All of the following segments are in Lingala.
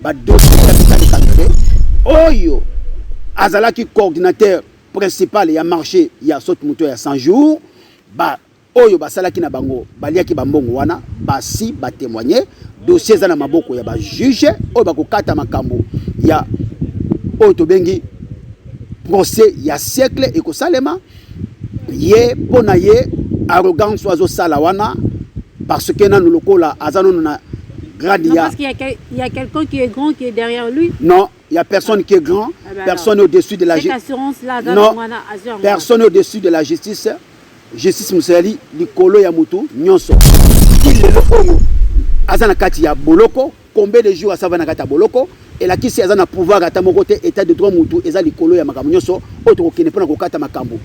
Ba dossiers ya Vital Kamerhe oyo azalaki coordinateur principal ya marché ya saute moto ya 100 jours ba oyo basalaki na bango baliaki bambongo wana basi batemoigne dossier eza na maboko ya bajuge oyo bakokata makambo ya oyo tobengi procès ya siècle ekosalema ye mpo na ye arrogance oyo azosala wana parce que nanu lokola aza nanu na grade ya parce qu'il y a, quel, il y a quelqu'un qui est grand qui est derrière lui non il y a personne ah. qui est grand ah ben personne alors, au-dessus de la justice non personne au-dessus de la justice justice mosalali likolo ya motu nyonso lelo oyo aza na kati ya boloko Combien de jours asa vana kata boloko elakisi aza na pouvoir ata moko te etat de droit mutu eza likolo ya makambo nyonso oyo tokokende mpona kokata makambo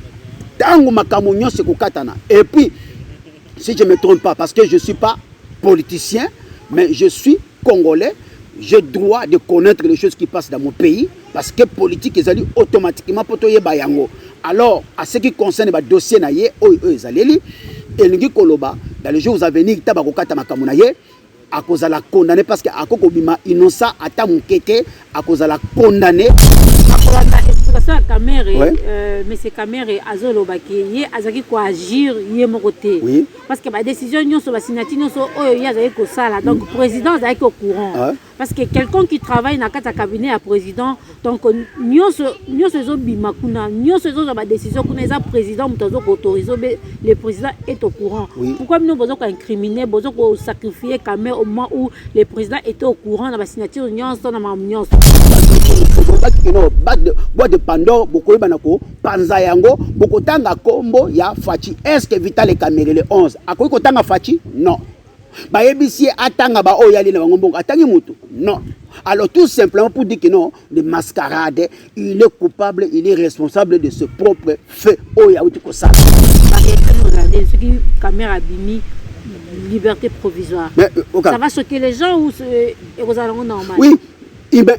ntango makambo nyonso ekokatana et puis si je me trompe pas parce que je suis pas politicien mais je suis congolais j'ai droit de connaître les choses qui passent dans mon pays parce que politique ezali automatiquement mpo toyeba yango alors à ce qui concerne badossier na ye oyo oyo ezaleli elingi koloba dans les jours à venir ntango bakokata makambo na ye akozala condamné parce que ako kobima innocent ata moke te akozala condamné akolanda explication ya kamere ouais. euh, monsieur kamere azolobaki ye azalaki koagir ye moko te oui. parce que badécision nyonso basignature nyonso oyo ye azalaki kosala donc mm. président azalaki au courant ah. parce que quelqu'un qui travaille na kati ya cabinet ya président donc nyonso nyonso ezobima kuna nyonso ezozwa badécision kuna eza président moto azo koautorise obe le président est au courant oui. pourquoi bino bozo koincrimine bozo kosacrifie kame au moment où le président était au courant na basignature nyonso na makambo nyonso boite de pandore bokoyeba na kopanza yango bokotanga nkombo ya faci est ce que vitale kamerele 11 akoki kotanga faci non bayebisi ye atanga baoyo yali na bango mbongo atangi motu non alors tout simplement pour dire que non de mascarade il est coupable il est responsable de ce propre fait oyo awuti kosala soki camera abimi liberté provisoire mais, euh, okay. ça va choquer les gens ou ekozala euh, yango normal oui eh ben,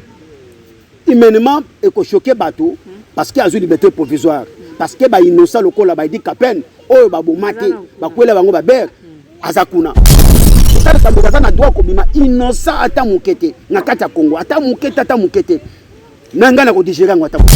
Humainement eko choquer bato parce que azwi liberté provisoire parce que ba innocent lokola ba Eddy Kapend oyo baboma te bakwela bango ba ber aza kuna Tata Kambuka aza na droit kobima innocent ata moke te na kati ya Congo ata moke te ata moke te na ngai na kodigere yango ata moke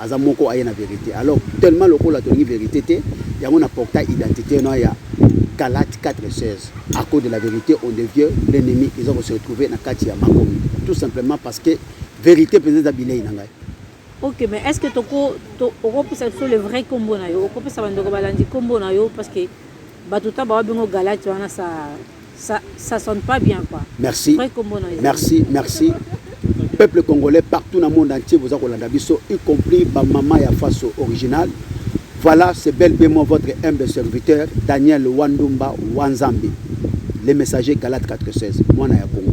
Aza moko aye na verite alors tellement lokola tolingi verite te yango na portail identite na ya Galates 4 16 à cause de la verite on devient l'ennemi eza ko se retrouver na kati ya makomi tout simplement parce que verite penza eza bilei na ngai Ok, mais est-ce que toko to, okopesa biso le vrai kombo na yo okopesa bandeko balandi kombo na yo parce que Batu ta bawa bingo galati wana sa ça, ça sonne pas bien quoi. Merci. Merci, merci. Peuple congolais partout dans le monde entier vous avez la biso y compris ba maman ya faso original. Voilà, c'est bel et moi votre humble serviteur Daniel Wandumba Wanzambi. Le messager Galat 416, moi na ya Congo.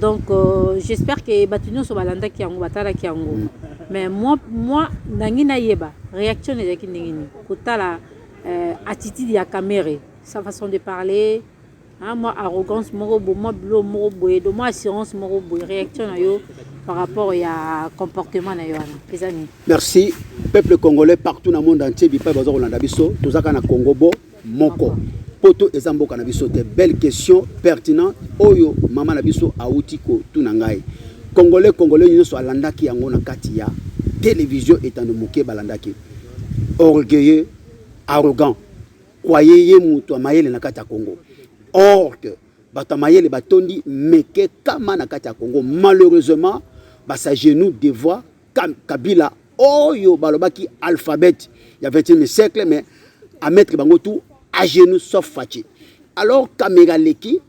Donc euh, j'espère que batu nionso balandaki yango batalaki yango mm. mais moi moi nangi nayeba réaction ezalaki ndenge nini kotala euh, attitude ya Kamerhe sa façon de parler hein, moi arrogance moko bo moi bilo moko boye do moi assurance moko boye réaction na yo par rapport ya comportement na yo wana eza nini merci peuple congolais partout na monde entier bipai baza kolanda biso tozaka na congo bo moko poto eza mboka na biso te belle question pertinent oyo mama na biso awuti kotuna ngai congolais congolais nyonso alandaki yango na kati ya télévision etando moke balandaki orgueilleux arrogant kwaye ye moto ya mayele na kati ya congo or que bato ya mayele batondi meke kama na kati ya congo malheureusement basagenou devoir Kabila oyo balobaki alphabet ya 21e siècle mais à mettre bango tout à genoux sauf Fatshi. Alors Kamega leki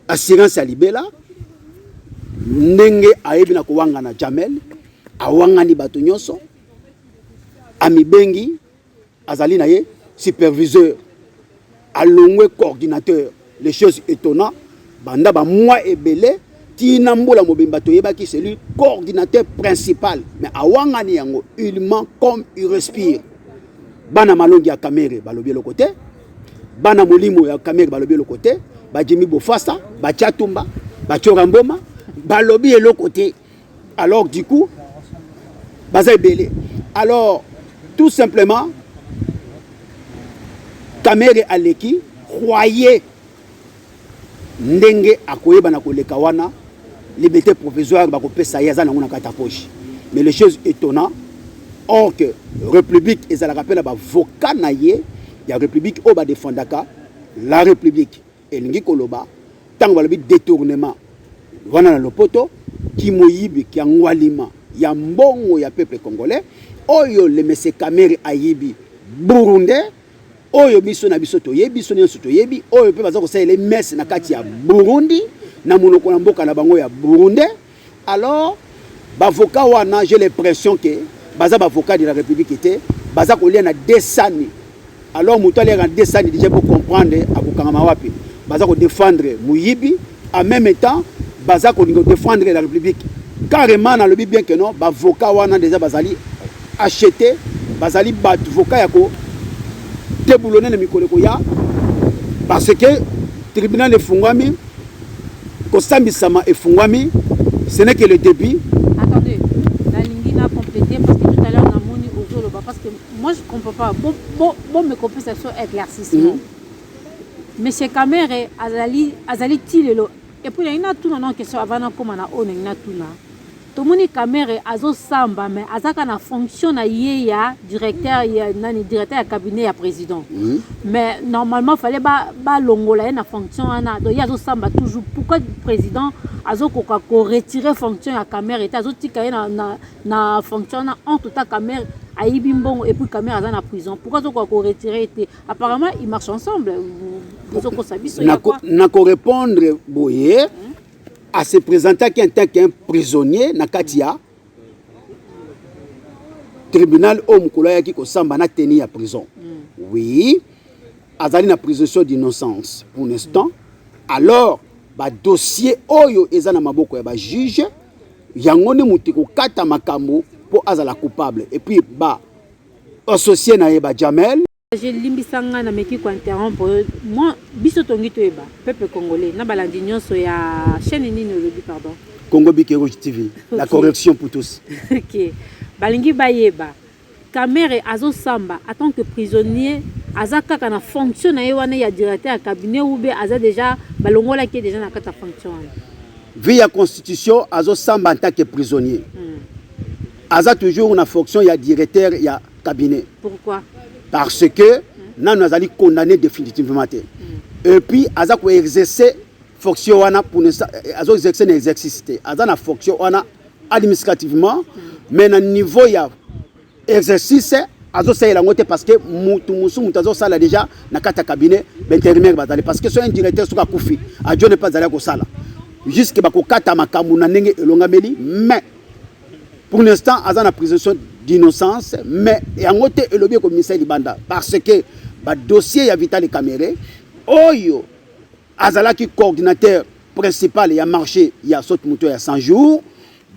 assurance ya libela ndenge ayebi na kowangana Jamel awangani bato nyonso amibengi azali na ye superviseur alongwe coordinateur les choses étonnant banda bamwa ebele tina mbula mobimba toyebaki celui coordinateur principal mais awangani yango il ment comme il respire bana malongi ya kamere balobi eloko te bana molimo ya kamere balobi eloko te bajimi bofasa bachatumba bachora mboma balobi eloko te alors du coup baza ebele alors tout simplement kamere aleki croye ndenge akoyeba na koleka wana liberté provisoire bakopesa ye aza nango na kati ya poche mais les choses étonnant or que république ezalaka mpe na bavoka na ye ya république oyo badefendaka la république Elingi koloba tango balobi detournement wana na lopoto kimoyibi kia ngwalima ya mbongo ya peuple congolais oyo le monsieur Kamere ayibi burundais oyo biso na biso toyebi biso nyonso toyebi oyo mpe baza kosalela messe na kati ya Burundi na monoko na mboka na bango ya burundais Alors bavoka wana j'ai l'impression que baza bavoka de la République te baza kolia na desani alors moto aliaka na desani deja po comprendre akokangama wapi baza kodefendre moyibi en même temps baza kolinga kodefendre la République carrément nalobi bien que non bavoka wana deja bazali achete bazali bato voka ya ko deboulone na mikolo ekoya parce que tribunal efungwami kosambisama efungwami ce n'est que le début attendez nalingi na compléter parce que tout à l'heure namoni ozoloba parce que moi je comprends pas bo bo bo me kopesa so éclaircissement mm -hmm. monsieur Kamere azali azali tilelo et puis na ina tuna na question avant na koma na oyo na ina tuna Tomoni Kamerhe azosamba mais azaka na fonction na ye ya directeur ya nani directeur ya cabinet ya président. Oui. Mais normalement fallait ba balongola ye na fonction wana. Donc ye azosamba toujours. Pourquoi président azokoka ko retirer fonction ya Kamerhe te azotika ye na, na, na fonction wana en tout cas Kamerhe ayibi mbongo et puis Kamerhe aza na prison. Pourquoi azokoka ko retirer ye te? Apparemment ils marchent ensemble. Bozokosa biso ya quoi? Nako répondre boye. Mm -hmm. a se presentaki en tant qu'un prisonnier na kati ya tribunal oyo mokolo ayaki kosamba na teni ya prison mm. oui azali na présomption d'innocence pour l'instant alors badossier oyo eza na maboko ya bajuge yango nde moto ekokata makambo mpo azala coupable epuis ba associe na ye bajamel Je limbisa nga na meki ko interrompre yo. Moi biso tongi toyeba peuple congolais na balandi nyonso ya chaîne nini olobi pardon. Congo Bike Rouge TV. Okay. La correction pour tous. OK. Balingi bayeba. Kamere azo samba en tant que prisonnier aza kaka na fonction na ye wana ya directeur ya cabinet ou bien aza déjà balongola ki déjà na kata fonction wana. Vie ya constitution azo samba en tant que prisonnier. Hmm. Aza toujours na fonction ya directeur ya cabinet pourquoi parce que nanu azali condamné définitivement te mm. et puis aza ko exercer fonction wana pour ne eh, azo exercer na exercice te aza na fonction wana administrativement mm. mais na niveau ya exercice azo salela yango te parce que mutu musu mutu azo sala déjà na kata cabinet b'intérimaire bazali parce que so un directeur soki akufi adjo ne pas azali kosala jusque bakokata makambo na ndenge elongameli mais pour l'instant aza na présomption d'innocence mais yango te elobi ekomisa libanda parce que badossier ya vitali camere oyo azalaki coordinateur principal ya marché ya sote moto ya 100 jours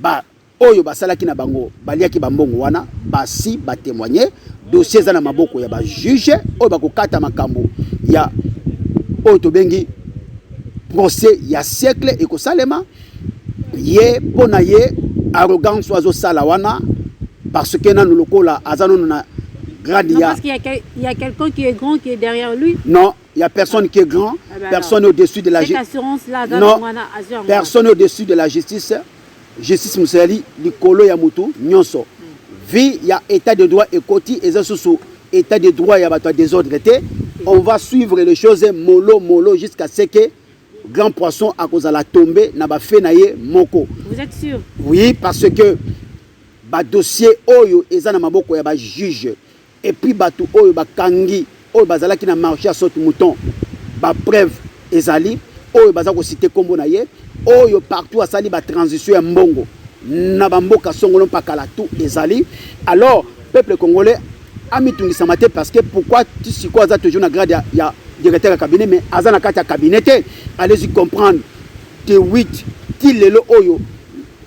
ba oyo basalaki na bango baliaki bambongo wana basi batémoigne dossier eza na maboko ya bajuge oyo bakokata makambo ya oyo tobengi procès ya siècle ekosalema ye mpo na ye arrogance oyo azosala wana parce que nanu lokola aza nanu na grade ya parce qu'il y a, quel, il y a quelqu'un qui est grand qui est derrière lui non il y a personne ah. qui est grand ah ben personne alors. au-dessus de la justice non personne au-dessus de la justice justice mosalali likolo ya motu nyonso hmm. vie ya état de droit ekoti eza susu état de droit ya bato ya désordre te on va suivre les choses molo molo jusqu'à ce que grand poisson akozala tombe na ba fait na ye moko. Vous êtes sûr? Oui, parce que ba dossier oyo eza na maboko ya ba juge et puis batu oyo bakangi oyo bazalaki na marché ya saute mouton ba preuve ezali oyo baza kosite nkombo na ye oyo partout asali batransition ya mbongo na bamboka songolo mpakala tout ezali alors peuple congolais Amitungisama te parce que pourquoi ti sikoyo aza toujours na grade ya, ya directeur ya cabinet mais aza na kati ya cabinet te allez-y comprendre te 8 ti lelo oyo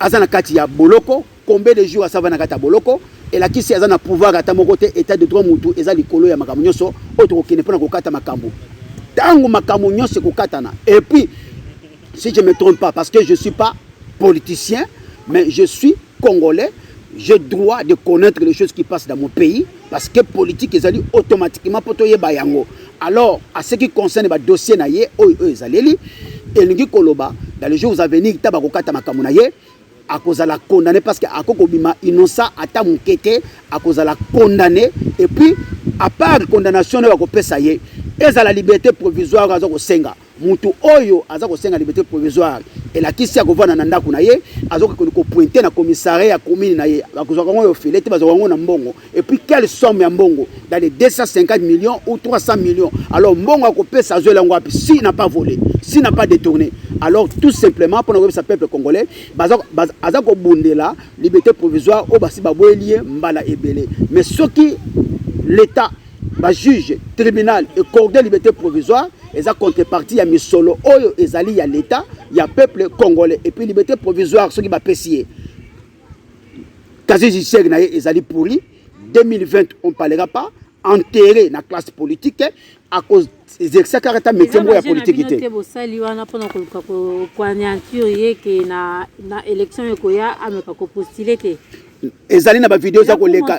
aza na kati ya boloko combien de jours asava na kati ya boloko elakisi aza na pouvoir ata moko te état de droit mutu eza likolo ya makambo nyonso oyo tokokende mpo na kokata makambo ntango makambo nyonso ekokatana epuis si je me trompe pas parce que je suis pas politicien mais je suis congolais j'ai droit de connaître les choses qui passent dans mon pays parce que politique ezali automatiquement mpo toyeba yango alors à ce qui concerne badossier na ye oyo oyo ezaleli elingi koloba dans les jours à venir ta bakokata makambo na ye akozala condamné parce que ako kobima innocent ata moke te akozala condamné et puis à part condamnation nayo akopesa ye ezala liberté provisoire aza kosenga Mutu oyo aza kosenga libete provisoire elakisi akovanda na ndako na ye azokokende kopointe na commissariat ya commune na ye bakozwaka yango yo file te bazwaka yango na mbongo et puis quelle somme ya mbongo dans les 250 millions ou 300 millions alors mbongo akopesa azwela yango wapi si na pas volé si na pas détourné alors tout simplement mpo na koyebisa peuple congolais baza, baza, aza kobundela liberté provisoire oyo basi baboyeli ye mbala ebele mais soki l'état ba juge tribunal ecorde liberté provisoire eza contrepartie ya misolo oyo ezali ya leta ya peuple congolais et puis liberté provisoire soki bapesi ye casier judiciaire na ye ezali pourri 2020 on parlera pas enterré na classe politique à cause ezekisa kaka ata metie moko ya politiki te bosali wana mpona koluka koanianture ye ke na élection ekoya ameka kopostile te ezali na bavideo eza koleka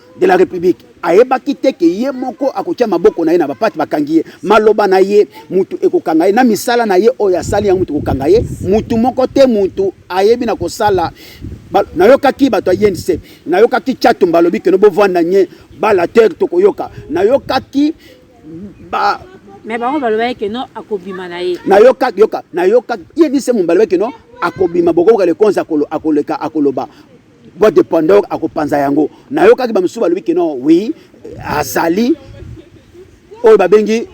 de la République ayebaki te ke ye moko akotia maboko na ye na bapate bakangi ye maloba na ye mutu ekokanga ye na misala na ye oyo asali yango mutu ekokanga ye mutu moko te mutu ayebi na kosala nayokaki bato ya yense nayokaki chatumba alobi keno bovanda nye bala te tokoyoka nayokaki ba mais bango balobaki keno akobima na ye nayoka yoka nayoka ye nise mombalobaki keno akobima bokoboka lekonzi akoleka akoloba boîte de pandore akopanza yango nayokaki bamosusu balobi ke non oui azali oyo babengi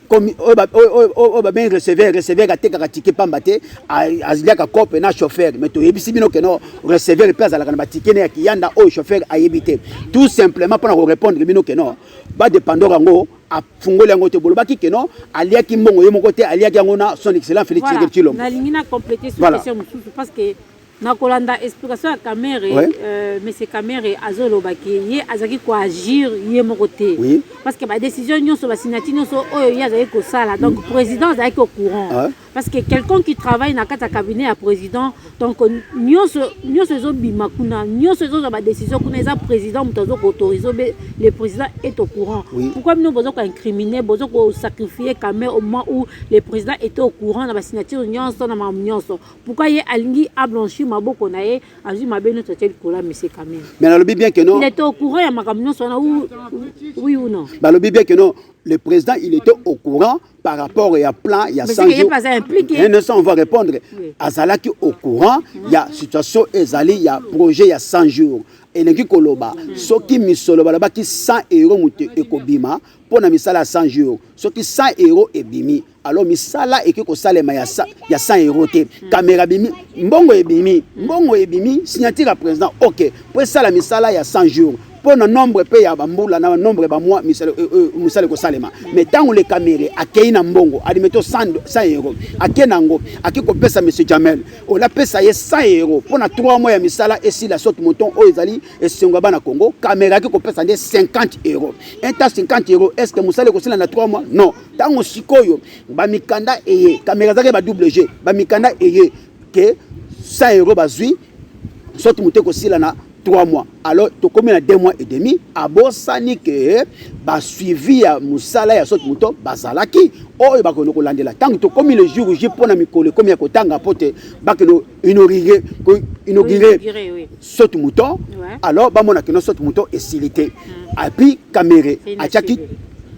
oyo babengi receveur receveur atekaka tike pamba te aliaka cope na chauffeur mais toyebisi bino keno receveur mpe azalaka na batike ne ya kiyanda oyo chauffeur ayebi te tout simplement mpo na korépondre bino keno badepandor yango afungoli yango te bolobaki keno aliaki mbongo ye moko te aliaki yango na son excellent félix voilà. tshilombo nalingi na complete voilà. question mosusu parce que na kolanda explication ya kamere ouais. euh, monsieur kamere azoloba ke ye azalaki koagir ye moko te oui. parce que badécision nyonso basignature nyonso oyo ye azalaki kosala donc mm. président azalaki au courant ah. parce que quelqu'un qui travaille na kati ya cabinet ya président donc nyonso nyonso ezobima kuna nyonso ezozwa badécision kuna eza président moto azo koautorise obe le président est au courant oui. pourquoi bino boza koincrimine boza kosacrifie kamere au moment où le président était au courant na basignature nyonso na mamu nyonso Pourquoi ye alingi a blanchir maboko na ye azwi mabe nyonso atie likolo ya monsieur Kamere. Mais nalobi bien que non. Il était au courant ya makambo nyonso wana oui ou non. Balobi bien que non le président il était au courant par rapport ya plan ya 100 jours. Mais ne on va répondre oui. azalaki au courant mm. ya situation ezali ya projet ya 100 jours. elingi koloba mm. soki misolo balobaki 100 euro moto ekobima mpo na misala ya 100 jours soki 100 euro ebimi alors misala ekoki kosalema ya 100 euro te kamera hmm. bimi mbongo ebimi mbongo ebimi signature ya président ok mpo esala misala ya 100 jours mpo na nombre mpe ya bambula na nombre ya bamwa mosala euh, euh, ekosalema me ntango le camere akei na mbongo adimeto 100 euro ake na yango ake kopesa monsieur jamel ola apesa ye 100 euro mpo na 3 mois ya misala esila soki moton oyo ezali esengo ya bana congo camere ake kopesa nde 50 euro inta 50 euro est ce que mosala ekosila na 3 mois non ntango sikoyo bamikanda eye kamera ezalaki ba wg bamikanda eye ke sa euro bazwi soki moto ekosila na 3 mois alors tokomi na 2 mois et demi abosani ke basuivi ya mosala ya soki moto bazalaki oyo bakende kolandela ntango tokomi le jour j mpo na mikolo ekomi ya kotanga mpo te bakende inauguré inauguré oui. saute mouton ouais. alors bamona kino saute mouton esili te mm. api kamere atiaki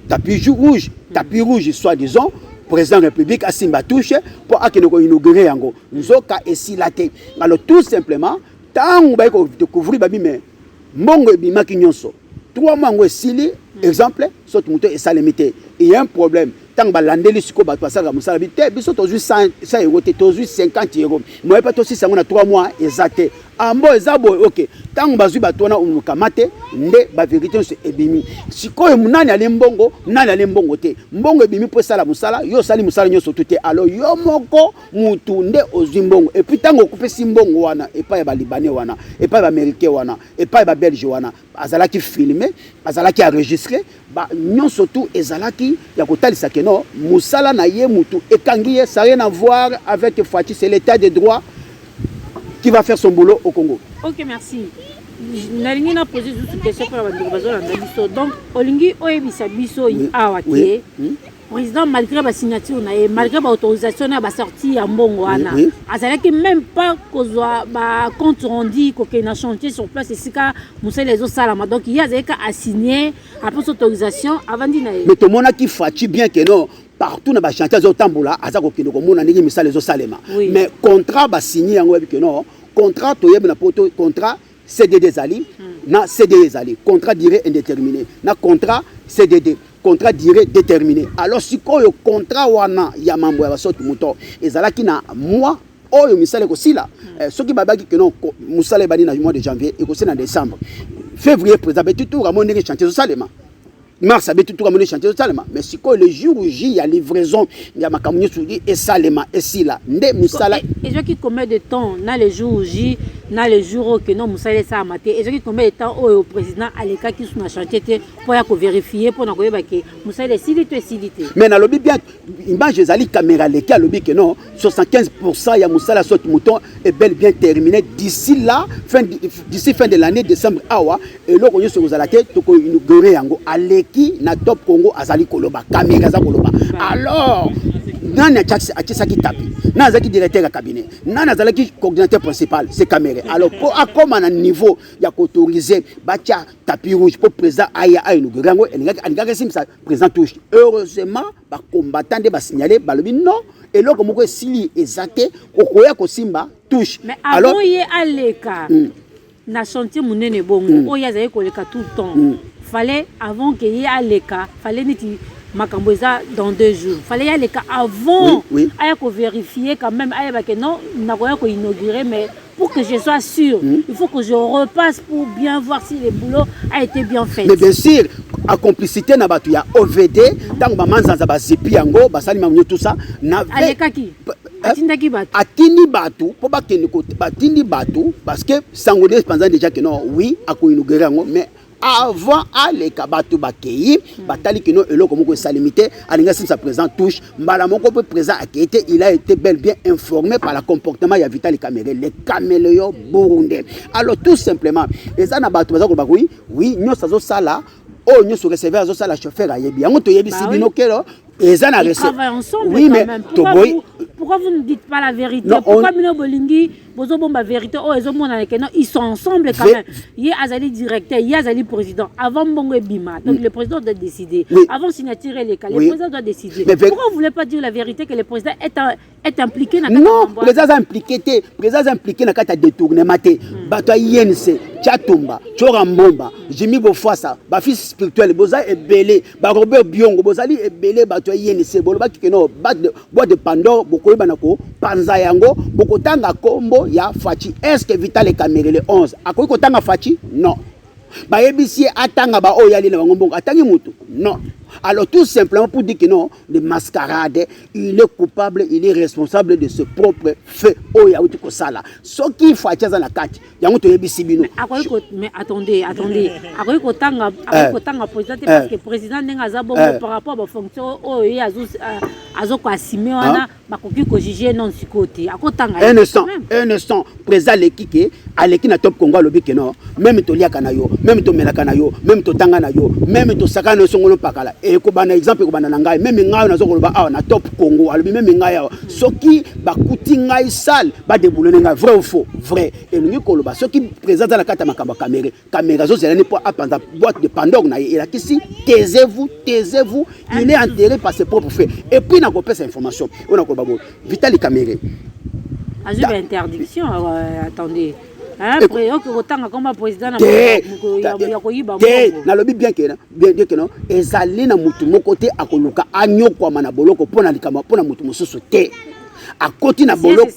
tapis rouge mm. tapis rouge soit disant président république asimba touche mpo akende koinaugure yango nzoka esila te alors tout simplement ntango baye kodecouvrir babi me mbongo ebimaki nyonso trois mois yango esili hmm. exemple soki moto esalemi te eye un problème ntango balandeli sikoyo bato basalaka mosala bi te biso tozwi 100 euro te tozwi 50 euro moye mpe tosisa yango na 3 mois eza te ambo ah, eza boye oke ntango bazwi bato wana omokama te nde baverité nyonso ebimi sikoyo nani ali mbongo nani ali mbongo te mbongo ebimi mpo esala mosala yo osali mosala nyonso tu te alo yo moko motu nde ozwi mbongo epuis ntango okopesi mbongo wana epai ya balibane wana epai ya baamerikain wana epai ba belge wana azalaki filme azalaki enregistre nyonso tu ezalaki ya kotalisa keno mosala na ye motu ekangi ye ça rien à voir avec faci c'est l'état de droit qui va faire son boulot au congo ok merci nalingi na pose lisusu question mpona bandeko bazolanda biso donc olingi oyebisa biso awa te hmm? président malgré ba signature na ye malgré ba autorisation na ba sortie ya mbongo wana oui, oui. azalaki même pas kozwa ba compte rendu kokende na chantier sur place esika mosala ezosalama donc ye azalaki assigne apres autorisation avandi na ye mais tomonaki faci bien que non partout na bachantier azotambola aza kokende komona ndenge misala ezosalema oui. mais contrat basigne yango yebi que non contrat toyebi na poto contrat cdd ezali na cde ezali contrat durée indéterminé na contrat cdd contrat durée déterminé alors sikoyo contrat wana ya mambo ya basoki moto ezalaki na mois oyo misala ekosila hmm. eh, soki babaki keno mosala ebandi na mois de janvier ekosila na décembre février président betitura mo ndenge chantier ezosalema mars abeti tuka moni chantier ezosalema mais sikoyo le jour j ya livraison ya makambo nyonso esalema esila nde mosala e, e, ezwaki combien de temps na le jour j na le jour oyo keno mosala esalama te ezwaki combien de temps oyo président alekaki su na chantier te mpo ya koverifie mpo na koyeba ke mosala esili to esili te mais nalobi bien Image ezali caméra leki alobi que non 75% ya musala soit mouton est bel bien terminé d'ici là fin d'ici fin de l'année décembre awa eloko nyoso kozala te toko inaugurer yango aleki na top Congo azali koloba caméra aza koloba alors nani atisaki tapi nani azalaki directeur ya cabinet nani azalaki coordinateur principal se camere alors mpo akóma na niveau ya koautorise batya tapi rouge mpo président aya ainaugure yango alingaki asimbisa Président Touche, heureusement, ba combattants de ba signaler, ba lobi non, et l'autre moko esili ezate, okoya kosimba Touche. Mais avant Alors, ye aleka, mm. na chantier munene bongo, mm. oya zaye koleka tout le temps. Mm. Fallait avant que ye aleka, fallait niti makambo eza dans deux jours fallait yaleka avant oui, oui. aya kovérifie quand même ayeba ke non nakoya koinaugure mais pour que je sois sûr, mmh. il faut que je repasse pour bien voir si le boulot a été bien fait. Mais bien sûr, à complicité na batu ya OVD, tango ba manzanza ba zipi yango, ba sali mamunyo tout ça, na Aleka qui eh, atindaki bato atindi bato mpo bakende batindi bato parce que sango nde panza déjà que non oui akoinugere yango mais avant aleka bato bakei hmm. batali kino eloko moko esalemi te alingi asilisa président touche mbala moko mpe président akei te il a été bel bien informé par la comportement ya vitali camere le caméléon burundais alors tout simplement eza na bato baza koloba koi wi nyonso azosala oyo oh, nyonso receveur azosala chauffeur ayebi yango toyebisi bino kelo eza na oui mais toboyi pourquoi vous ne dites pas la vérité pourquoi bino bolingi bozo bomba verité oyo ezo monana que non ils sont ensemble quand même ye azali directeur ye azali président avant mbongo ebima donc mm. le président doit décider oui. avant signature eleka le oui. président doit décider Mais pourquoi vous voulez pas dire la vérité que le président est un est impliqué na non président aza impliqué te président aza impliqué na kati ya détournement te mm. bato ya inc chatumba chora mbomba jimi bofasa bafils spirituel boza ebele barobert biongo bozali ebele bato ya inc bolobaki ke no boîte de Pandore bokoyeba na ko panza yango bokotanga kombo ya Fachi est-ce que Vital Kamerhe le 11 akoki kotanga Fachi non bayebisi ye atanga baoyo yali na bango mbongo atangi motu non alors tout simplement pour dire que non le mascarade il est coupable il est responsable de ce propre fait oyo awuti kosala soki faci aza na kati yango toyebisi bino akoki ko mais attendez attendez akoki kotanga akoki eh. kotanga président te eh. parce que président ndenge aza bongo eh. par rapport ba fonction oyo ye azo euh, azo ko assumer wana bakoki ko juger non sikoyo te akotanga un instant un instant président aleki ke aleki na top congo alobi ke non meme toliaka na yo meme tomelaka na yo meme totanga na yo meme tosaka na yo songolo pakala ekobanda exemple ekobanda na ngai meme ngai oyo nazokoloba awa na top congo alobi meme ngai awa soki bakuti ngai sale badebulone ngai vrai ou faux vrai elingi koloba soki président aza na kati ya makambo ya kamere kamere azozela ne mpo apanza boîte de pandore na ye elakisi taisez-vous taisez-vous il est enterré par ses propres faits et puis nakopesa information oyo nakoloba boye vitali kamere azwi ba interdiction euh, attendez nalobi bien keno ezali na motu moko te akoluka anyokwama na boloko mpo na likambo mpo na motu mosusu te akoti na boloko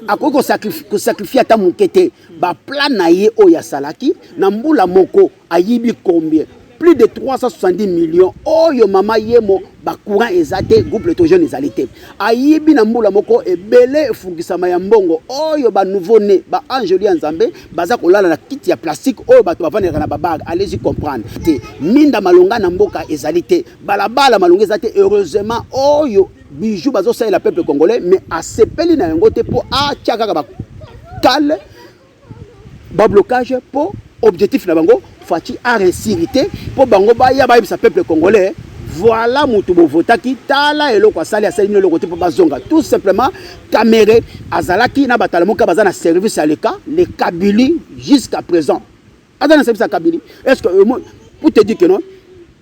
akoki kosakrifie ata moke te baplan na ye oyo asalaki na mbula moko ayibi combien plus de 370 millions oyo mama yemo bacourant eza te groupe letrogene ezali te ayibi na mbula moko ebele efungisama ya mbongo oyo banouveau ne baangeli ya nzambe baza kolala na kiti ya plastique oyo bato bavandelaka na babage alezi comprendre te minda malonga na mboka ezali te balabala malonga eza te heureusement oyo bijou bazosalela peuple congolais mais asepeli na yango te mpo atya kaka bakale ba blocage po objectif na bango Fatshi a réussir te po bango ba ya ba yebisa peuple congolais voilà mutu bovotaki tala eloko asali asali bino eloko te mpo bazonga tout simplement kamere azalaki na batalamuka baza na service ya leka le kabili jusqu'à présent aza na service ya kabili est ce que pour te dire que non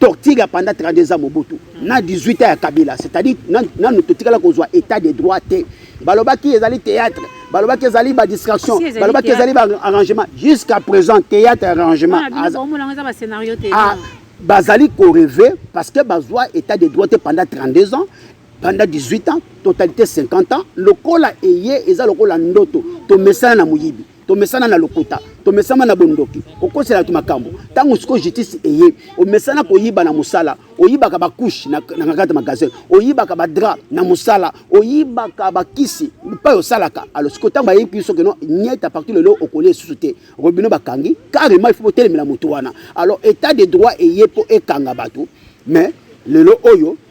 torture ya pendant 32 ans Mobutu mm. na 18 ans ya Kabila c'est-à-dire nanu totikala kozwa état de droit te balobaki ezali théâtre balobaki ezali ba distraction balobaki ezali ba arrangement jusqu'à présent théâtre arrangement ah, bazali koreve parce que bazwa état de droit te pendant 32 ans pendant 18 ans totalité 50 ans lokola eye eza lokola ndoto tomesana na moyibi tomesana na lokuta tomesama na bondoki kokosela bato makambo ntango sikoyo justice eye omesana koyiba na mosala oyibaka bakushe na kati magasin oyibaka badra na mosala oyibaka bakisi mpai osalaka alo sikoyo ntango bayebi biso keno nyete apartir lelo okolia esusu te robino bakangi carrement ifo botelemela moto wana alors état de droit eye mpo ekanga bato mais lelo oyo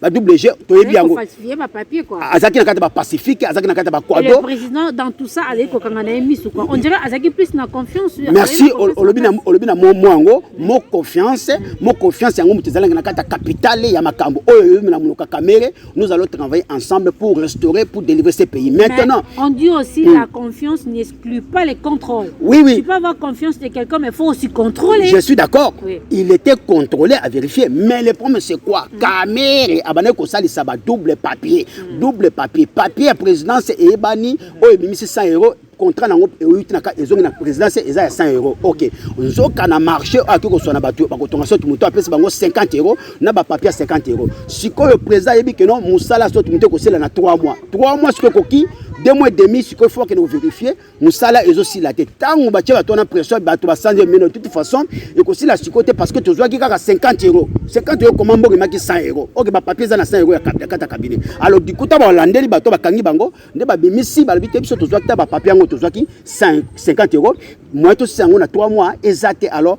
ba WG toyebi yango azalaki na kati ba pacifique azalaki na kati ba quado le président dans tout ça azalaki kokanga na ye misu quoi on dirait azalaki plus na confiance merci olobi na olobi na mo yango mo confiance mo confiance yango moto ezalaki na kati ya capitale ya makambo oyo oyebi na monoko kamere nous allons travailler ensemble pour restaurer pour délivrer ce pays maintenant on dit aussi la hmm. confiance plus pas les contrôles. Oui, oui. Tu peux avoir confiance de quelqu'un, mais il faut aussi contrôler. Je suis d'accord. Oui. Il était contrôlé à vérifier. Mais le problème, c'est quoi mm. Kamere, abane kosali ça va double papier. Mm. Double papier. Papier à présidence et ebani, mm. oh, et 100 euros. contrat nango euti na kati ezongi na présidence eza ya 100 euro ok nzoka na marché oyo akoki koswana bato bakotonga soki moto apesi bango 50 euro na ba papier 50 euros sikoyo président ayebi que non musala soki moto ekosela na 3 mois 3 mois sikoyo ekoki deux mois et demi sikoyo faut akende kovérifie mosala ezosila te ntango batye bato wana pression bato basanze mino de toute façon ekosila sikoyo te parce que tozwaki kaka 50 euro 50 euro koma mboka emaki 100 euro oke bapapier eza na 100 euro ya kata kabine alors dikuta balandeli bato bakangi bango nde babimisi balobi te biso tozwaki ta bapapier yango tozwaki 50 euro moyen tosisa yango na 3 mois eza te alors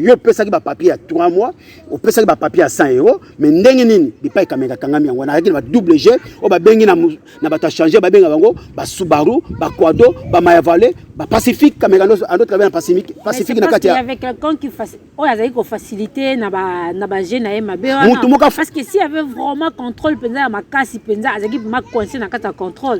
yo opesaki bapapier ya 3 mois opesaki bapapier ya 100 euro mais ndenge nini bipai kameka kangami yango wana azalaki na badouble g oyo babengi na bato ya change babenga bango basubaru baquado bamayavale bapacifique kameka ando travaille na pacifique na kati ya oyo azalaki kofacilite na baje na ye mabe wana parce que si avait vraiment contrôle mpenza ya makasi mpenza azalaki ma coince na kati ya contrôle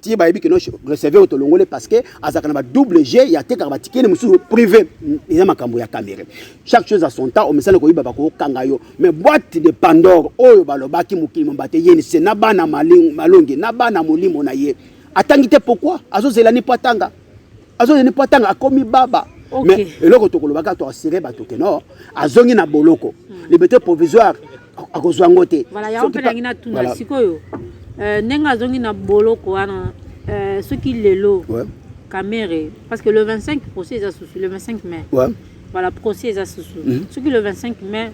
ti bayebi kino receveur oyo tolongoli parce que azalaka na badouble g ya atekaka batikeni mosusu privé eza makambo ya camere chaque chose à son temps omesana koyiba bakokanga yo mais boite de pandore oyo balobaki mokili mamba te yeni se na bana malongi na bana molimo na ye atangi te pourkui azozela ni mpo atanga azongi ne po atanga akomi baba okay. mais eloko tokoloba kaka toasire bato ke no azongi na boloko mm. liberté provisoire akozwa yango te voilà, yango mpe nangi natuna voilà. sikoyo euh, ndenge azongi na boloko wana euh, soki lelo ouais. kamere parce que le 25 procès eza susu le 25 mai ouais. voilà procès eza susu mm -hmm. soki le 25 mai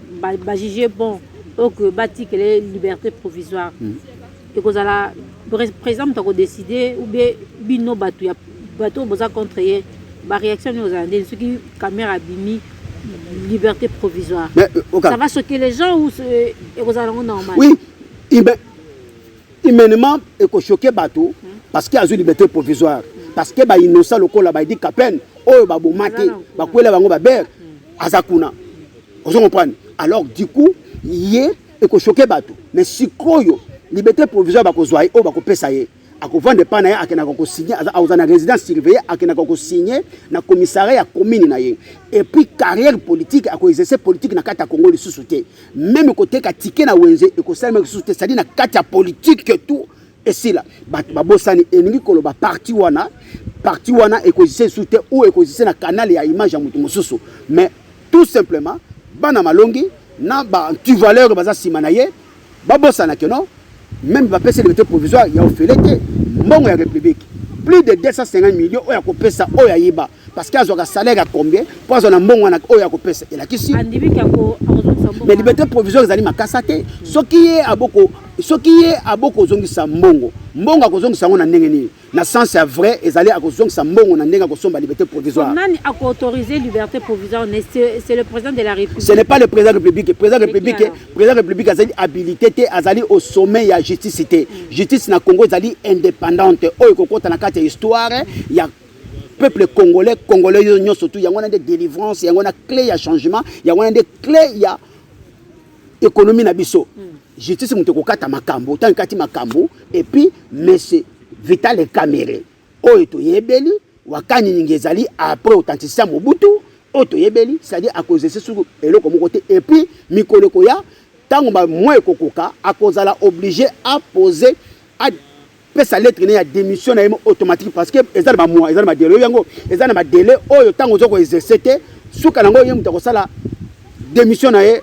bajuge ba bon oyo batikele liberté provisoire mm -hmm. Ekozala president moto ako decider ou bien bino batu ya batu oyo boza contre ye ba reaction nini ozala ndeni soki camera abimi liberté provisoire Mais, euh, oka- ça va choquer les gens ou ce- ekozala yango normal oui huma- humainement ekoshoke bato parce que azwi liberté provisoire parce que bainnosa lokola baidi kapene oyo baboma te Aza na kuna. bakwela bango babere aza kuna ozo comprendre alors du coup ye ekoshoke bato me sikoyo liberté provisoire bakozwa ye oyo bakopesa ye akovanda epai na ye akendaka kosigne aza na résidence surveille akendaka kosigne na commissariat ya commune na ye epuis carrière politique akoexerce politique na kati ya congo lisusu te meme koteka tike na wenze ekosalemaka lisusu te cestadi na kati ya politique tout esila bato babosani elingi koloba parti wana parti wana ekozisa esu te ou ekozisa na kanale ya image ya moto mosusu mais tout simplement bana malongi na baantivaleur baza nsima na ye babosana ke non meme bapesi liberté provisoire ya ofele te mbongo ya république plus de 250 millions oyo akopesa oyo ayeba parce que azwaka salaire ya combien mpo azwa na mbongo wana oyo akopesa elakisi mais liberté provisoire ezali makasa te soki ye aboko soki ye abokozongisa mbongo mbongo akozongisa yango na ndenge nini na sens ya vrai ezali akozongisa mbongo na ndenge akosomba liberté provisoire nani akoautoriser liberté provisoire c'est le président de la république ce n'est pas le président république président république président république azali habilité te azali au sommet ya justice te mm. justice na congo ezali indépendante oyo ekokota na kati ya histoire ya peuple congolais congolais yo nyonso tu yango wana nde délivrance yango wana clé ya changement yango wana nde clé ya économie na biso hmm. justice moto ekokata makambo ntango ekati makambo epuis monsieur vital camere oyo toyebeli wakani ningi ezali après authenticité ya mobutu oyo toyebeli c'est-à-dire akozese suku eloko moko te epuis mikolo ekoya ntango bamoi ekokoka akozala oblige apose pesa lettre ne ya démission na ye automatique parce que eza na bamwa eza na badele oyo yango eza na badele oyo ntango oza koexerce te suka nango ye moto akosala démission na ye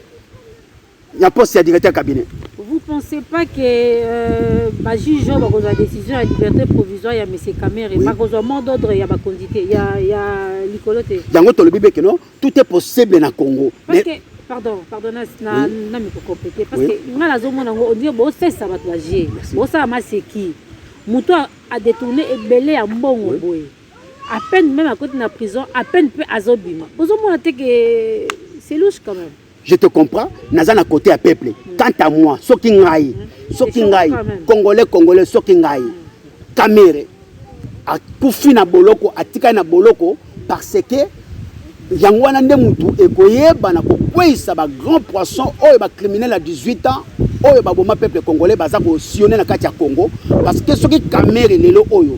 ya poste ya directeur cabinet vous pensez pas que euh, bajuge oyo bakozwa décision ya liberté provisoire ya monsieur camere bakozwa mot d'ordre ya bakonzi te ya likolo te yango tolobi beke no tout est possible na congo mais pardon pardon na na na mi compléter parce que nga la zomo nango on dit bo sesa bato ba je bo sala maseki moto a détourner ebele ya mbongo boye à peine même à côté na prison à peine pe azobima bozomona te que c'est louche quand même je te comprends naza na côté ya peuple quant à moi soki ngai soki ngai congolais congolais soki ngai kamere akufi na boloko atikali na boloko parce que yango wana nde mutu ekoyebana kokweyisa ba grand poisson oyo ba criminel ya 18 ans oyo baboma peuple congolais baza kosione na kati ya congo parce que soki kamere lelo oyo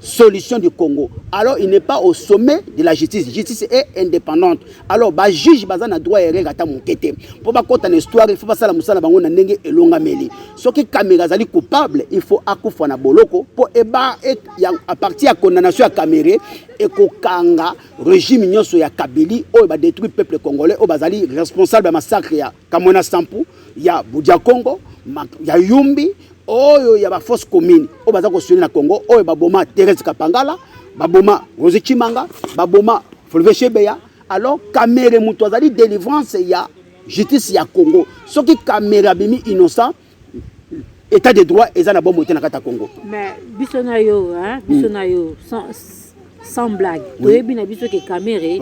solution du Congo. Alors il n'est pas au sommet de la justice. La justice est indépendante. Alors ba juge baza na droit erreur ata mokete. Pour ba kota na histoire, il faut pas sala musala bango na ndenge elonga meli. Ce qui Kamera zali coupable, il faut akufa na boloko pour eba et à partir ya condamnation ya Kamere et kokanga régime nyoso ya Kabili oyo ba détruit peuple congolais oyo bazali responsable ya massacre ya Kamwena Sampu ya Budja Congo, ya Yumbi, oyo ya ba fausse commune oyo baza kosuele na Congo, oyo baboma Therese Kapangala, baboma Rosi Chimanga, baboma Fulve Shebeya. Alors Kamere moto azali délivrance ya justice ya Congo. Soki Kamere abimi innocent État de droit eza na bombo te na kata Congo. Mais biso na yo hein, biso hmm. na yo sans sans blague. Toyebi na biso ke Kamerhe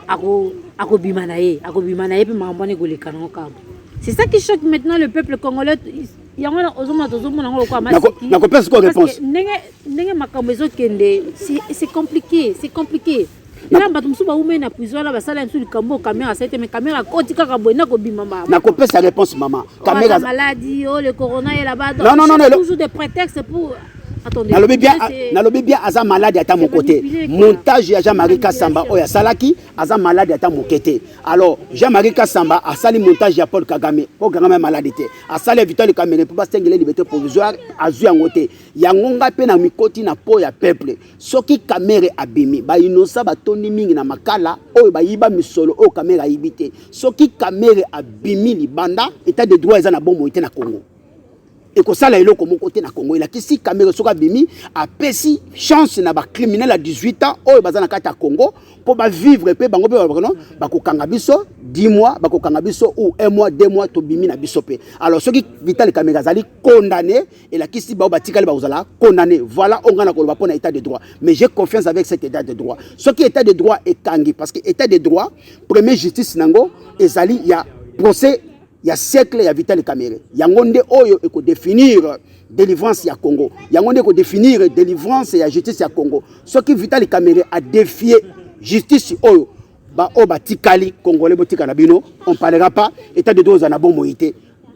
ako akobima na ye, akobima na ye pe makambo wana ekoleka nango kaka. C'est ça qui choque maintenant le peuple congolais. yango wana ozomona tozomona yango lokola masiknakopesa ko réponse ndenge ndenge makambo ezokende c'est compliqué c'est compliqué ela bato mosusu baumeli na prison ela basala ya mosusu likambo oyo kamera asali te mais kamera akoti kaka boye na kobima mama nakopesa réponse mama kamera maladie oyo oh, le corona ela badontout des prétextes pour nalobi bien nalobi bien aza malade ata moko te montage ya jean marie kasamba oyo asalaki aza malade ata moke te alors jean marie kasamba asali montage ya paul kagame paul kagame malade te asali ya vital kamere mpo basengele libete provisoire azwi yango te yango ngai mpe na mikoti na po ya peuple soki kamere abimi bainosa batondi mingi na makala oyo bayiba misolo oyo kamere ayibi te soki kamere abimi libanda etat de droit eza na bomoi te na congo ekosala eloko moko te na congo elakisi kamere soki abimi apesi chance na bacriminel ya 18 ans oyo baza na kati ya congo mpo bavivre mpe bango mpe no bakokanga biso 10 mois bakokanga biso ou 1 mois 2 mois tobimi na biso mpe alors soki vital kamere azali condamne elakisi bao batikali bakozala condamné voilà oyo ngai nakoloba mpo na état de droit mais j'ai confiance avec cet état de droit soki état de droit ekangi parce que état de droit premier justice na yango ezali ya procès ya siècle ya vital camere yango nde oyo ekodéfinir délivrance ya congo yango nde ekodéfinir délivrance ya justice ya congo soki vital camere adefie justice oyo baoyo batikali congolais botika na bino on parlera pas état de droit eza na bomoi te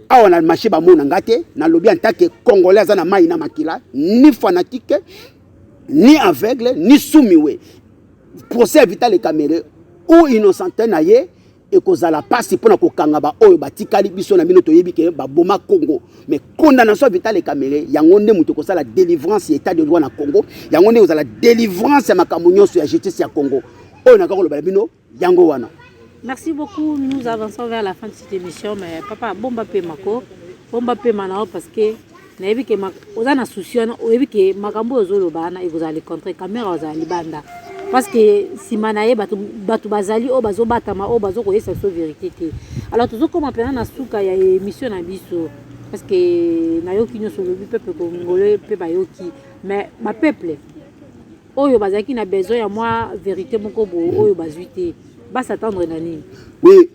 awa na marché bamona nga te nalobi antake congolais aza na mai na makila ni fanatique ni aveugle ni sumiwe procès ya vital ekamere ou innocente na ye ekozala mpasi mpo na kokanga baoyo batikali biso na bino toyebi ke baboma congo mais condamnation ya vital ekamere yango nde moto ekosala délivrance ya état de droit na congo yango nde ekozala délivrance ya makambo nyonso ya justice ya congo oyo nakakoloba na bino Yango wana. Merci beaucoup. Nous avançons vers la fin de cette émission mais papa bomba pema ko. Bomba pema nao parce que nayebi ke oza na souci wana oyebi ke makambo oyo ozoloba wana ekozala le contraire kamera ozala libanda parce que nsima na ye bato bazali oyo bazobatama oyo bazokoyesa biso verité te alors tozokoma mpena na suka ya émission na biso parce que nayoki nyonso olobi peuple congolais mpe bayoki mais bapeuple oyo bazalaki na besoin ya mwa verite moko boye oyo bazwi te ba s'attendre na nini oui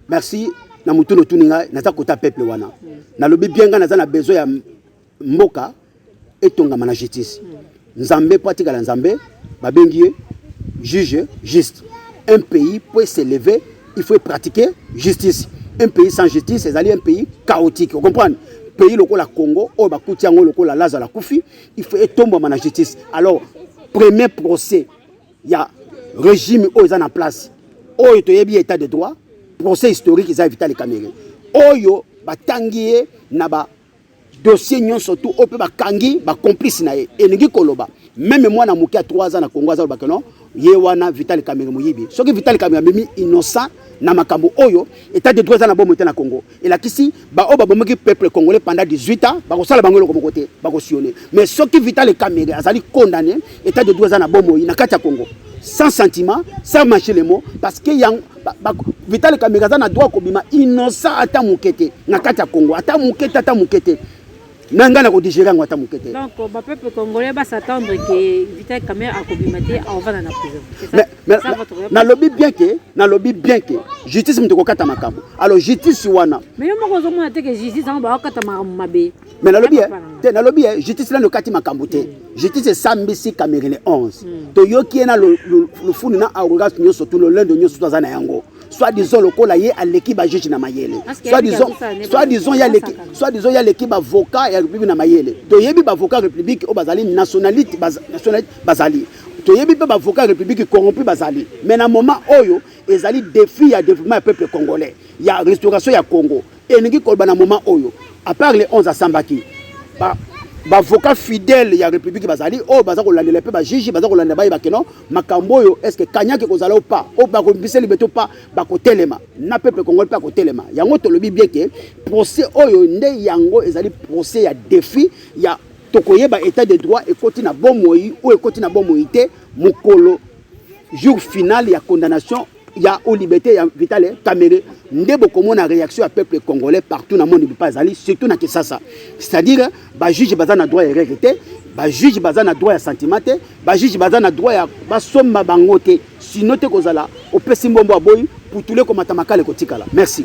merci na motuna otuni ngai naza kota peuple wana mm. nalobi bien ngai naza na besoin ya mboka etongama na justice mm. nzambe mpo atikala nzambe babengi ye juge juste un pays mpo eselever il faut pratiquer justice un pays sans justice ezali un pays chaotique ocomprendre pays lokola congo oyo bakuti yango lokola lazala kufi il faut etombama na justice alors premier procès ya régime oyo eza na place oyo toyebi ya état de droit procès historique eza ya vitali kamere oyo batangi ye na ba dossier nyonso tu oyo mpe bakangi bacomplice na ye elingi koloba meme mwana moke ya 3 ans na congo azalobaka non ye wana Vital Kamerhe moyibi soki Vital Kamerhe amemi innocent na makambo oyo état de droit eza na bomo te na Congo elakisi baoyo babomaki peuple congolais pendant 18 ans bakosala bango eloko moko te bakosione mais soki Vital Kamerhe azali condamné état de droit eza na bomoi na kati ya Congo sans sentiment sans mâcher les mots parce que yango Vital Kamerhe aza na droit kobima innocent ata moke te na kati ya Congo ata moke te ata moke te na ngai nakodigere yango ata moke te donc bapeuple congolais basattendre ke vital camere akobima te aovanda na prison nalobi bien ke nalobi bien ke justice moto ekokata makambo alors justice wana mais yo moko ozomona te ke justice yango baokata makambo mabe mais nalobi te nalobi ye justice nano okati makambo te hmm. justice esambisi camerine 11 hmm. toyoki ye na lufuni na arrogance nyonso tu lolendo nyonso to aza na yango soit disant lokola ye aleki ba juge na mayele soit disant soit disant ya leki soit disant ya leki ba avocat ya république na mayele to yebi ba avocat république o bazali nationalité nationalité bazali toyebi mpe bavoka ya république corrompu bazali mais na moment oyo ezali défi ya développement ya peuple congolais ya restauration ya congo elingi koloba na moment oyo apart le 11 asambaki bavoka fidèle ya république bazali oyo baza kolandela mpe bajiji baza kolandela baye bakeno makambo oyo eske kanyaki ekozala o pas o bakombisa libeto pa bakotelema na pepe kongoli mpe akotelema yango tolobi bie ke procès oyo nde yango ezali procès ya défi ya tokoyeba état de droit ekoti na bomoi oyo ekoti na bomoi te mokolo jour final ya condamnation ya o liberté ya Vital Kamerhe nde bokomona réaction ya peuple congolais partout na monde bipa azali surtout na Kinshasa c'est-à-dire ba juge baza na droit ya erreur te ba juge baza na droit ya sentiment te ba juge baza na droit ya basomba bango te sino te kozala opesi mbombo aboyi putule komata makala ekotikala merci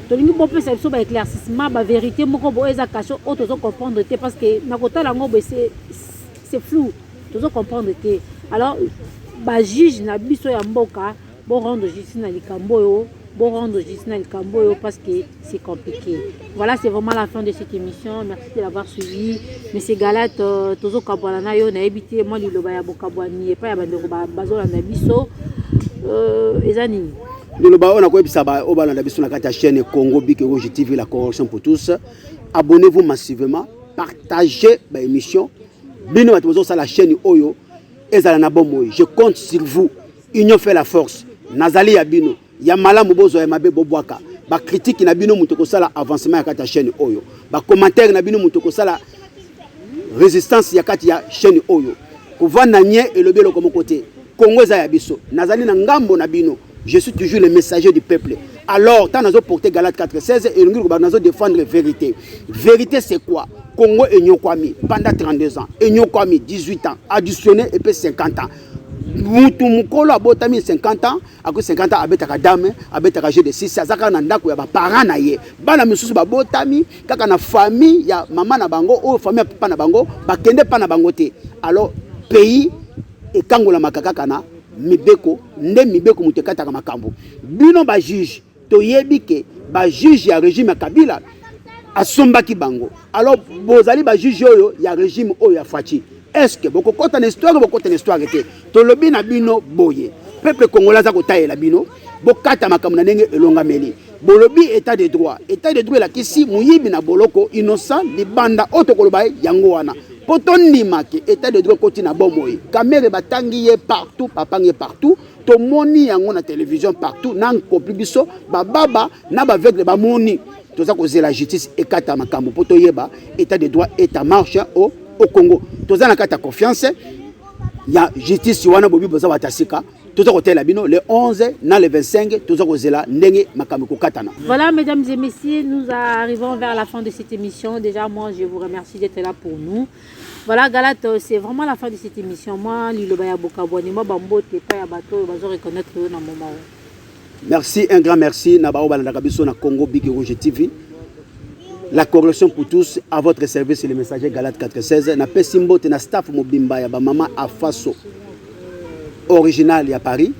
tolingi bopesa biso ba éclaircissement ba vérité moko boye eza cache oyo tozo comprendre te parce que na kotala yango boye c'est flou tozo comprendre te alors bajuge na biso ya mboka borendre justice na likambo oyo borendre justice na likambo oyo parce que c'est compliqué voilà c'est vraiment la fin de cette émission merci de l'avoir suivi monsieur galat euh, tozokabwana na yo nayebi te mwa liloba ya bokabwani epai ya bandeko bazolanda biso euh, eza nini Liloba oyo nakoyebisa baoyo balanda biso na kati ya chaîne Congo Bike Rouge TV la corruption pour tous. Abonnez-vous massivement, partagez ba émission. Bino bato bozosala chaîne oyo ezala na bomoi. Je compte sur vous. Union fait la force. Nazali ya bino. Ya malamu bozwa ya mabe bobwaka. Ba critique na bino moto kosala avancement ya kati ya chaîne oyo. Ba commentaire na bino moto kosala résistance ya kati ya chaîne oyo. Kovanda nye elobi eloko moko te. Congo eza ya biso nazali na ngambo na bino je suis toujours le messager du peuple alors ntango nazo porte galate 416 elongi lokoba nazo défendre vérité vérité c'est quoi congo enyokwami pendant 32 ans enyokwami 18 ans additionné epe 50 ans mutu mokolo abotami 50 ans akoki 50 ans abetaka dame abetaka jeu de 6 aza kaka na ndako ya baparent na ye bana misusu babotami kaka na famille ya mama na bango oyo famille ya papa na bango bakende mpa na bango te alors pays ekangolamaka kaka na mibeko nde mibeko moto ekataka makambo bino bajuge toyebi ke bajuge ya regime ya kabila asombaki bango alors bozali bajuge oyo ya regime oyo ya faci estce bokokɔta na histoire bokota na histoire te tolobi na bino boye peuple congolais aza kotalela bino bokata makambo na ndenge elongameli Bolobi etat de droit. Etat de droit elakisi moyibi na boloko innocent libanda oyo tokoloba ye yango wana. Mpo tondima ke etat de droit ekoti na bomoi. Kamere batangi ye partout, bapangi ye partout. Tomoni yango na television partout, na nkopi biso bababa na baveugle bamoni. Toza kozela justice ekata makambo mpo toyeba etat de droit est en marche au, au Congo. Toza na kati ya confiance ya justice wana bobi boza batasika. toza kotela bino le 11 na le 25 toza kozela ndenge makambo ekokatana voilà mesdames et messieurs nous arrivons vers la fin de cette émission déjà moi je vous remercie d'être là pour nous voilà galate euh, c'est vraiment la fin de cette émission moi liloba ya bokabwani mwa bambote epai ya bato oyo bazo reconnaître yo na moment oyo Merci, un grand merci na bao balandaka biso na Congo Big Rouge TV. La correction pour tous, à votre service le messager Galat 416. Na pesi mbote na staff mobimba ya ba mama Afaso original ya Paris.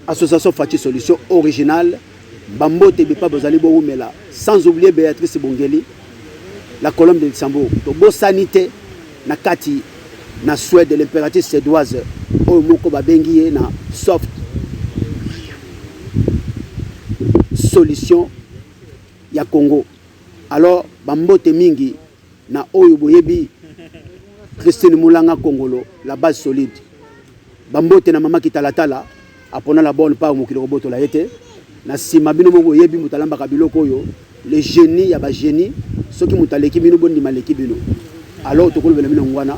Association Fatih Solution original. Bambote bipa bozali bowumela sans oublier Béatrice Bongeli la colonne de Luxembourg. To bo sanité Na kati na Suède, l'imperatrice suédoise oyo moko babengi ye na soft solution ya Congo. Alors bambote mingi na oyo boyebi Christine Mulanga Kongolo, la base solide. Bambote na mama Kitalatala. apona la bonne part mokili kobotola ye te na nsima bino moko oyebi moto alambaka biloko oyo le génie ya bagénie soki moto aleki bino bondima aleki bino alors tokolobela bino yango wana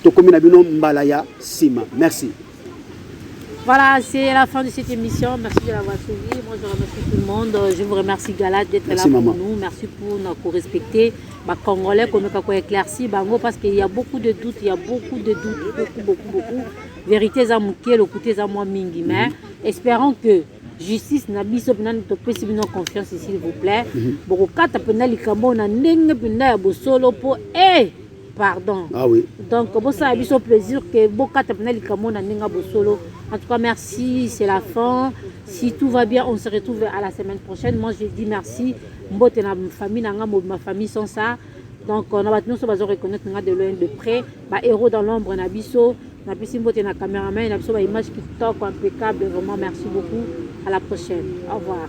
tokomi na bino mbala ya nsima merci Voilà, c'est la fin de cette émission. Merci de l'avoir suivi. Moi, je remercie tout le monde. Je vous remercie, Galat, d'être là pour maman. nous. Merci pour nous respecter. Bah, Congolais, qu'on a éclairci, bah, parce qu'il y a beaucoup de doutes, il y a beaucoup de doutes, beaucoup, beaucoup, beaucoup. verite eza moke lokuta eza mwa mingi mais mhm. espérant que justice na biso mpenza topesi bino confiance s'il vous plaît mhm. bokokata mpenza likambo na ndenge mpenza ya bosolo mpo e eh, pardon ah oui. donc bosala biso plaisir ke bokata mpenza likambo na ndenge ya bosolo en tout cas merci c'est la fin si tout va bien on se retrouve à la semaine prochaine moi je dis merci mbote na famille na ngai ma famille sans ça donc na bato nyonso bazo reconnaitre nga de loin de près ba héros dans l'ombre na biso napesi mbote na cameraman na biso ba image kitoko impeccable vraiment merci beaucoup à la prochaine au revoir